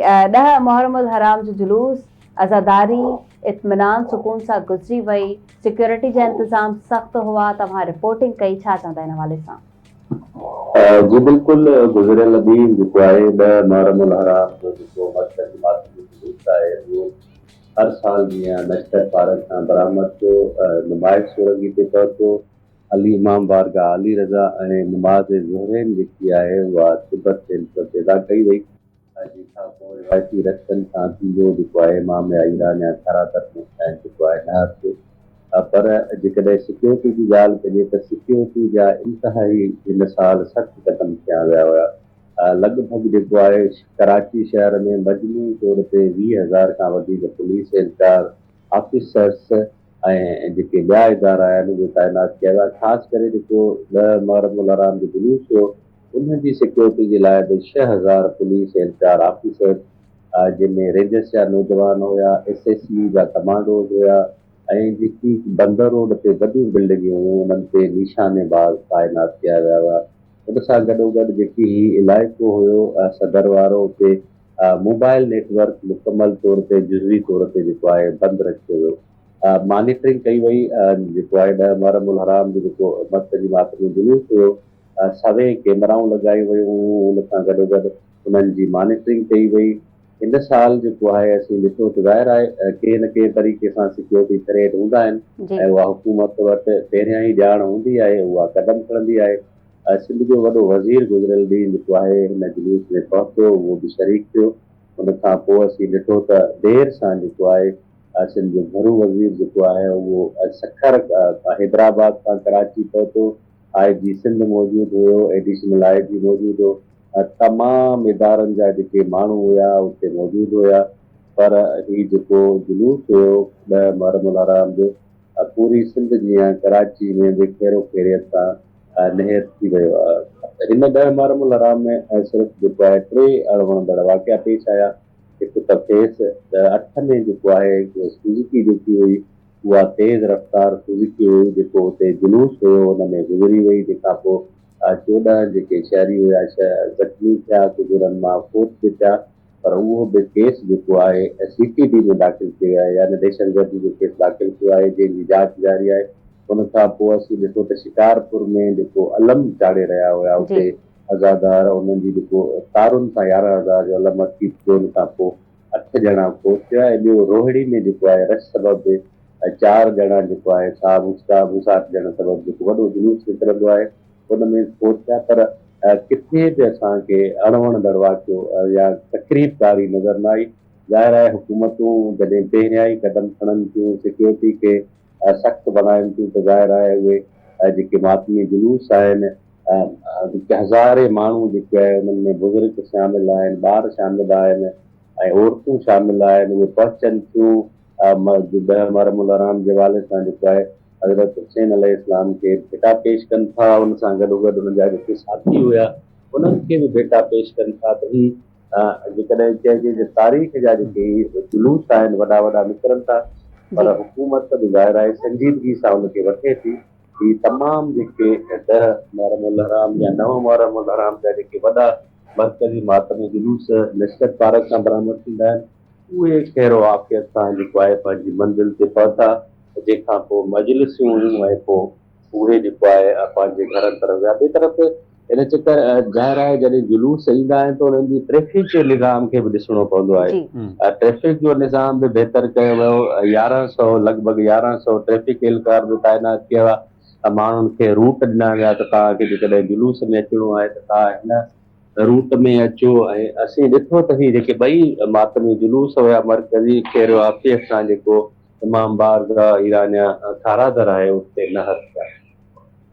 ڏهه محرم الحرام جو جلوس عزاداري اطمينان سڪون سان گذري وئي سيڪيورٽي جا انتظام سخت هئا توهان رپورٽنگ ڪئي ڇا چوندا ان حوالي سان. جي بلڪل گذريل ڏينهن جيڪو آهي ڏهه محرم الحرام جو جيڪو مرڪز جماعت جو جلوس آهي اهو هر سال جيان نشتر پارڪ کان برآمد ٿيو نمائش سورنگي تي پهتو علي امام بارگاهه علي رضا ۽ نماز ظهرين جيڪي آهي اها تبت سينٽر تي ادا ڪئي وئي. ڇاجي ڇا ڪو روايتي رستن سان ٿيندو جيڪو آهي مام يا ايران يا کارا ترڪمين سائين جيڪو آهي نه هٿ پر جيڪڏهن سيڪيورٽي جي ڳالهه ڪجي ته سيڪيورٽي جا انتهائي هن سال سخت قدم کنيا ويا هيا لڳ ڀڳ جيڪو آهي ڪراچي شهر ۾ مجموعي طور تي ويهه هزار کان وڌيڪ پوليس اهلڪار آفيسرس ۽ جيڪي ٻيا ادارا آهن اهي تعينات ڪيا ويا خاص ڪري جيڪو ڏهه محرم الحرام جو جلوس هو ان جي سيڪيورٽي جي لاء به ڇهه هزار پوليس ۽ چار آفيسرز جن ۾ رينجرز جا نوجوان هيا، ايس ايس يو جا ڪمانڊوز هيا ۽ جيڪي بندر روڊ تي وڏيون بلڊنگيون هيون انهن تي نيشاني باز تعينات ڪيا ويا هيا. ان سان گڏوگڏ جيڪي هي علائقو هيو صدر وارو اتي موبائل نيٽ ورڪ مڪمل طور تي جزوي طور تي جيڪو آهي بند رکيو ويو. مانيٽرنگ ڪئي وئي جيڪو آهي ڏهه محرم الحرام جو جيڪو مرڪزي ماٿري ۾ جلوس هيو. سوين ڪيمرائون لڳايون ويون هيون، ان سان گڏوگڏ انهن جي مانيٽرنگ ڪئي وئي، هن سال جيڪو آهي اسين ڏٺو ته ظاهر آهي ڪنهن نه ڪنهن طريقي سان سيڪيورٽي ٿريٽ هوندا آهن جي. ۽ اها حڪومت وٽ پهريان ئي ڄاڻ هوندي آهي اها قدم کڻندي آهي، سنڌ جو وڏو وزير گذريل ڏينهن جيڪو آهي هن جلوس ۾ پهتو اهو به شريڪ ٿيو، ان کان پوء اسين ڏٺو ته دير سان جيڪو آهي سنڌ جو گهرو وزير جيڪو آهي اهو سکر حيدرآباد کان ڪراچي پهتو، آء جي سنڌ موجود هيو، ايڊيشنل آء جي موجود هو، تمام ادارن جا جيڪي ماڻهو هيا اتي موجود هيا پر هي جيڪو جلوس هيو ڏهه محرم الحرام جو پوري سنڌ جيان ڪراچي ۾ به خيرو خيريت سان نهيت ٿي ويو آء هن ڏهه محرم الحرام ۾ صرف جيڪو آهي ٽي اڻ وڻندڙ واقعا پيش آيا هڪ ته فيس اٺ ۾ جيڪو آهي سوزوڪي جيڪي هئي اها تيز رفتار سوزوڪي هئي جيڪو اتي جلوس هيو ان ۾ گذري وئي جنهن کان پوء چوڏهن جيڪي شهري هيا ڇهه زخمي ٿيا ڪجهه انهن مان فوت به ٿيا پر اهو به ڪيس جيڪو آهي سي ٽي ڊي ۾ داخل ڪيو ويو آهي يعني دهشتگردي جو ڪيس داخل ڪيو آهي جنهن جي جاچ جاري آهي ان کان پوء اسين ڏٺو ته شڪارپور ۾ جيڪو علم چاڙهي رهيا هيا اتي عزادار انهن جي جيڪو تارن سان يارهن هزار جو علم اٽڪي ٿيو ان کان پوء اٺ ڄڻا فوت ٿيا ۽ ٻيو روهڙي ۾ جيڪو آهي رش سبب به ۽ چار ڄڻا جيڪو آهي سا موسڪا موساٽ ڄڻ سبب جيڪو وڏو جلوس نڪرندو آهي ان ۾ فوت ٿيا پر ڪٿي به اسان کي اڻ وڻندڙ واقعو يا تخريب ڪاري نظر نه آئي ظاهر آهي حڪومتون جڏهن پهريائين قدم کڻن ٿيون سيڪيورٽي کي سخت بڻاين ٿيون ته ظاهر آهي اهي جيڪي ماتمي جلوس آهن هزارين ماڻهو جيڪي آهي انهن ۾ بزرگ شامل آهن ٻار شامل آهن ۽ عورتون شامل آهن اهي پهچن ٿيون ڏهه محرم الحرام جي حوالي سان جيڪو آهي حضرت حسين عليه السلام کي ڀيٽا پيش ڪن ٿا ان سان گڏو گڏ انهن جا جيڪي ساٿي هيا انهن کي به ڀيٽا پيش ڪن ٿا ته هي جيڪڏهن چئجي ته تاريخ جا جيڪي جلوس آهن وڏا وڏا نڪرن ٿا پر حڪومت به ظاهر آهي سنجيدگي سان ان کي وٺي ٿي هي تمام جيڪي ڏهه محرم الحرام يا نو محرم الحرام جا جيڪي وڏا مرڪزي ماتمي جلوس لشڪر پارڪ کان برآمد ٿيندا آهن اهي خير و عافيت سان جيڪو آهي پنهنجي منزل تي پهتا جنهن کان پوء مجلسون هيون ۽ پوء اهي جيڪو آهي پنهنجي گهرن طرف ويا ٻي طرف ان چڪر ظاهر آهي جڏهن جلوس ايندا آهن ته انهن جي ٽريفڪ جي نظام کي به ڏسڻو پوندو آهي ٽريفڪ جو نظام به بهتر ڪيو ويو يارهن سؤ لڳ ڀڳ يارهن سؤ ٽريفڪ اهلڪار به تعينات ڪيا ويا ماڻهن کي روٽ ڏنا ويا ته توهان کي جيڪڏهن جلوس ۾ اچڻو آهي ته توهان هن روٽ ۾ اچو ۽ اسين ڏٺو ته هي جيڪي ٻئي ماتمي جلوس هيا مرڪزي کير آفيس کان جيڪو امام بارگاهه ايرانيا کان کارا در آهي، اتي نهر ٿيا.